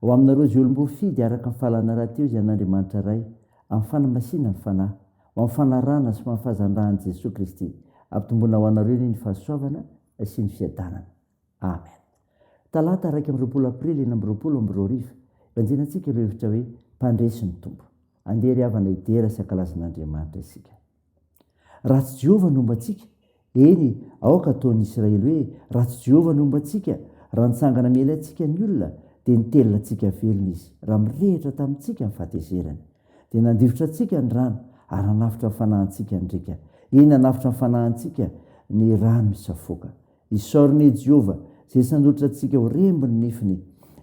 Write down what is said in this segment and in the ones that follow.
Ho aminareo izay olom-boafidy, araka ny fahalalana rahateo izay an'Andriamanitra Ray, amin'ny fanamasinany ny Fanahy, ho amin'ny fanarahana sy ho amin'ny fahazandrahan'i Jesoa Kristy, ampitomboina ho anareo anie ny fahasoavana sy ny fiadanana. Amen. Talata iraika amby roapolo Aprily enina amby roapolo amby roa arivo, hibanjina antsika ireo hevitra hoe, Mpandresy ny Tompo. Andeha ry havana hidera sy hankalaza an'Andriamanitra isika. Raha tsy Jehovah no homba antsika, eny, aoka hataon'ny Isiraely hoe, Raha tsy Jehovah no homba antsika, raha nitsangana miely antsika ny olona, dia nitelina antsika velona izy, raha mirehitra tamintsika ny fahatezerany. Dia nandifotra antsika ny rano, ary nanavotra ny fanahintsika ny riaka, eny, nanavotra ny fanahintsika ny rano misafoaka. Isaorana i Jehovah, izay sandotry antsika ho remby ny nifiny.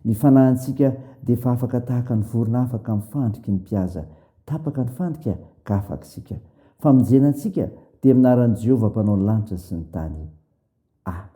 Ny fanahintsika dia efa afaka tahaka ny vorona afaka amin'ny fandriky ny mpihaza. Tapaka ny fandrika, ka afaka isika. Famonjena antsika dia amin'ny anaran'i Jehovah Mpanao ny lanitra sy ny tany. Amen.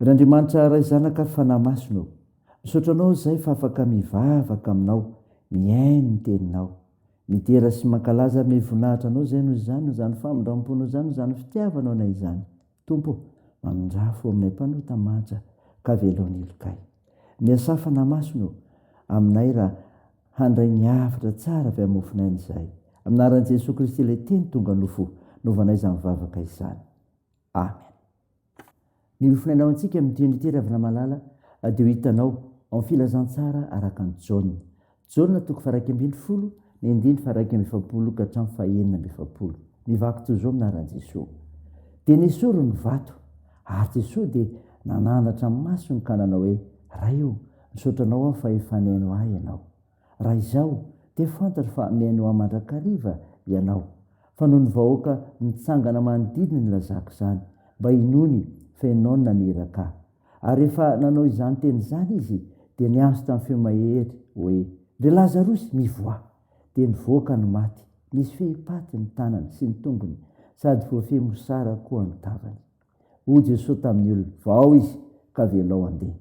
Ry Andriamanitra Ray Zanaka ary Fanahy Masina ô, misaotra Anao izahay fa afaka mivavaka Aminao, mihaino ny Teninao. Midera sy mankalaza ary mivonahitra Anao izahay noho izany, noho izany famindram-po noho izany, noho izany fitiavanao anay izany. Tompo ô, mamindrà fo aminay mpanota manja ka velao ny helokay. Miasà Fanahy Masina ô, aminay raha handray ny hafatra tsara avy amin'ny mofonaina izahay. Amin'ny anaran'i Jesoa Kristy ilay Teny tonga nofo, novanay izany vavaka izany. Amen. Ny ho finainao antsika amin'ity andro ity Ravinamalala dia ho hitanao ao amin'ny Filazantsara araka an'i Jaona. Jaona toko faharaika ambin'ny folo, ny andininy faharaika amby efapolo ka hatramin'ny fahenina amby efapolo. Mivaky toy izao ny anaran'i Jesoa. Dia nesory ny vato ary Jesoa dia nanandratra ny masony ka nanao hoe, Ray ô, misaotra anao aho fa efa nihaino ahy ianao. Raha izao dia fantatro fa mihainoa ahy mandrakariva ianao, fa noho ny vahoaka mitsangana manodidina ny lazako izany, mba inoany fa ianao no naniraka ahy. Ary rehefa nanao izany teny izany izy, dia niantso tamin'ny feo mahery hoe, Ry Lazarosy, mivoaha! Dia nivoaka ny maty, nisy fehi-paty ny tanany sy ny tongony, sady voafehy mosara koa ny tavany. Hoy Jesosy tamin'ny olona, Vao izy, ka velao handeha.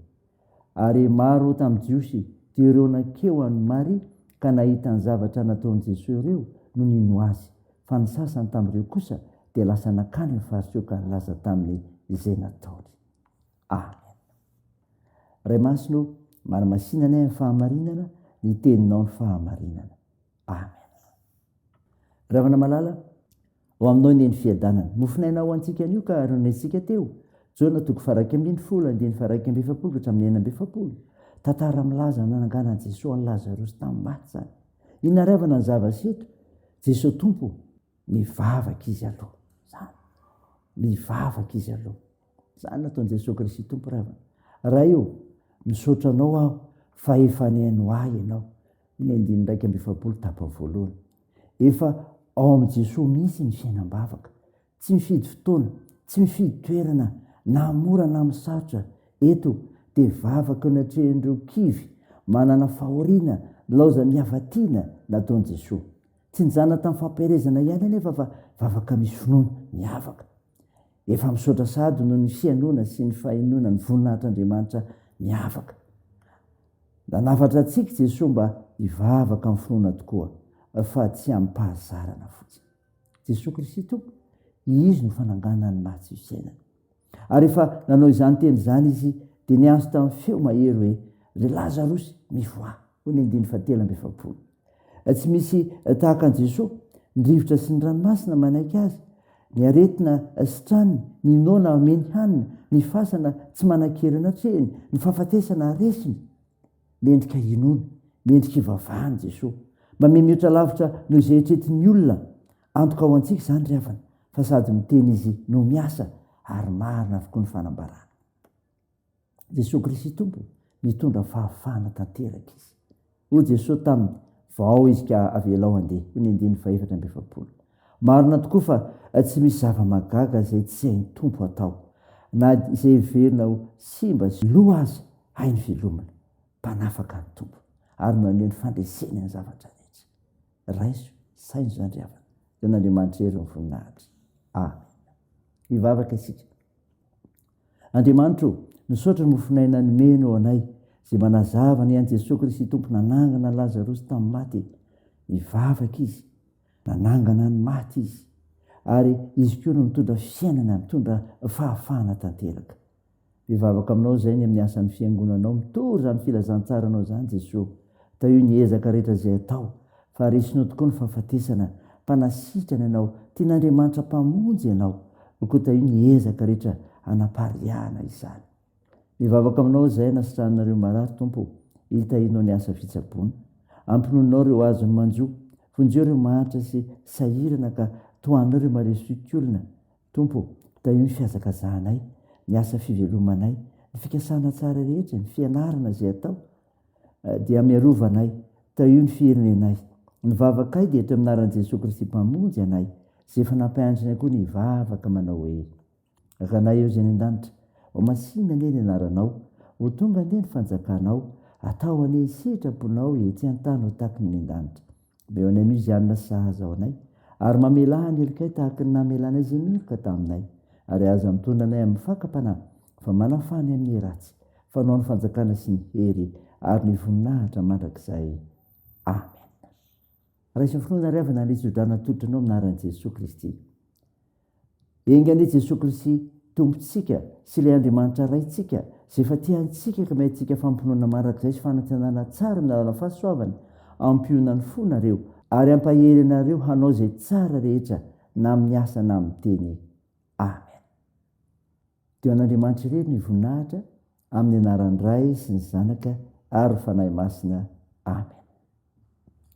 Ary maro tamin'ny Jiosy dia ireo nankeo an'i Maria ka nahita ny zavatra nataon'i Jesoa ireo no nino Azy, fa ny sasany tamin'ireo kosa dia lasa nankany amin'ny Fariseo ka nilaza taminy izay nataony. Amen. Ray Masina ô, manamasinanay amin'ny fahamarinana ny Teninao ny fahamarinana. Amen. Ravana malala, Ho aminao anie ny fiadanana. Mofon'aina ho antsika anio ka ary noresintsika teo, Jona toko faharaika ambin'ny folo, andininy faharaika amby efapolo ka hatramin'ny enina amby efapolo. Tantara milaza ny nananganan'i Jesoa an'i Lazarosy tamin'ny maty izany. Inona ary havana ny zava-seto? Jesoa Tompo, mivavaka izy aloha. Izany. Mivavaka izy aloha. Izany nataon'i Jesoa Kristy Tompo ry havana. Ray o, misaotra Anao aho fa efa nihaino ahy Ianao. Ny andininy iraika amby efapolo tapany voalohany. Efa ao amin'i Jesoa mihitsy ny fiainam-bavaka. Tsy mifidy fotoana, tsy mifidy toerana, na mora na misarotra. Eto dia vavaka natrehin'ireo kivy manana fahoriana nilaozan'ny hava-tiana nataon'i Jesoa. Tsy nijanona tamin'ny fampiherezana ihany anefa fa vavaka misy finoana, miavaka. Efa misaotra sahady noho ny fihainoana sy ny fahenoana ny voninahitr'Andriamanitra miavaka. Nanafatra antsika i Jesoa mba hivavaka amin'ny finoana tokoa fa tsy amim-pahazarana fotsiny. Jesoa Kristy Tompo, Izy no fananganan'ny maty ny fiainana. Ary rehefa nanao izany teny izany Izy dia niantso tamin'ny feo mahery hoe, Ry Lazarosy, mivoaha! Hoy ny andininy fahatelo amby efapolo, Tsy misy tahaka an'i Jesoa, ny rivotra sy ny ranomasina manaiky Azy, ny aretina sitrany, ny noana ameny hanina, ny fasana tsy manan-kery natrehiny, ny fahafatesana resiny. Mendrika hinoana, mendrika hivavahana Jesoa. Mamemiotra lavitra noho izay eritreretin'ny olona. Antoka ho antsika izany ry havana, fa sady miteny Izy no miasa, ary marina avokoa ny fanambarany. Jesoa Kristy Tompo, mitondra fahafahana tanteraka Izy. Hoy Jesoa taminy, Vao izy ka avelao handeha. Hoy ny andininy fahefatra amby efapolo. Marina tokoa fa tsy misy zava-mahagaga izay tsy hain'ny Tompo atao, na dia izay heverina ho simba sy lo aza, hainy velomina. Mpanafaka ny Tompo, ary maneho ny fandreseny ny zavatra rehetra. Raiso, saino izany ry havana, dia an'Andriamanitra irery ny voninahitra. Amena. Hivavaka isika. Andriamanitro ô, misaotra mofonay nanomenao anay izay manazava ny an'i Jesoa Kristy Tompo nanangana an'i Lazarosy tamin'ny maty. Nivavaka Izy, nanangana ny maty Izy, ary Izy koa no mitondra fiainana, mitondra fahafahana tanteraka. Mivavaka aminao izay ny amin'ny asan'ny Fiangonanao, mitory izany filazantsaranao izany Jesoa. Tahio ny ezaka rehetra izay atao, fa resinao tokoa ny fahafatesana, mpanasitrana ianao, tian'Andriamanitra Mpamonjy ianao, koa tahio ny ezaka rehetra hanapariahana izany. Mivavaka aminao izahay hanasitrananareo marary, Tompo ô, hitahianao ny asa fitsaboana. Ampinoninao ireo azony manjo, vonjeo ireo mahantra sy sahirana ka tohananao ireo maresoiky olona. Tompo ô, tahio ny fihazakazahanay, ny asa fivelomanay, ny fikasana tsara rehetra, ny fianarana izay atao, dia miarova anay, tahio ny firenenay. Ny vavakay dia eto amin'ny anaran'i Jesoa Kristy Mpamonjy anay, izay efa nampianatrinay koa ny hivavaka manao hoe, Rakanay eo izay any an-danitra, ho masinina anie ny anaranao, ho tonga anie ny fanjakanao, atao anie ny sitraponao etsy an-tany ho taky ny any an-danitra. Mba eo anay mihitsy izany na sahaza ho anay. Ary mamelà ny helonkay tahaka ny namelànay izay miheloka taminay. Ary aza mitondra anay amin'ny fakam-panahy, fa manafaha anay amin'ny ratsy. Fanao ny fanjakana sy ny hery ary ny voninahitra mandrakizay. Amena. Raiso finoana ry havana ary itso-drano atolotra anao amin'ny anaran'i Jesoa Kristy. Enga anie Jesoa Kristy Tompontsika sy ilay Andriamanitra Raintsika izay efa tia antsika ka meantsika fampinoana marak'izay sy fanantenana tsara amin'ny alalan'ny fahasoavany, ampionany fo nareo ary ampahery anareo hanao izay tsara rehetra na amin'ny asa na amin'ny teny. Amen. Dia ho an'Andriamanitra irery ny voninahitra amin'ny anaran'ny Ray sy ny Zanaka ary ny Fanahy Masina. Amen.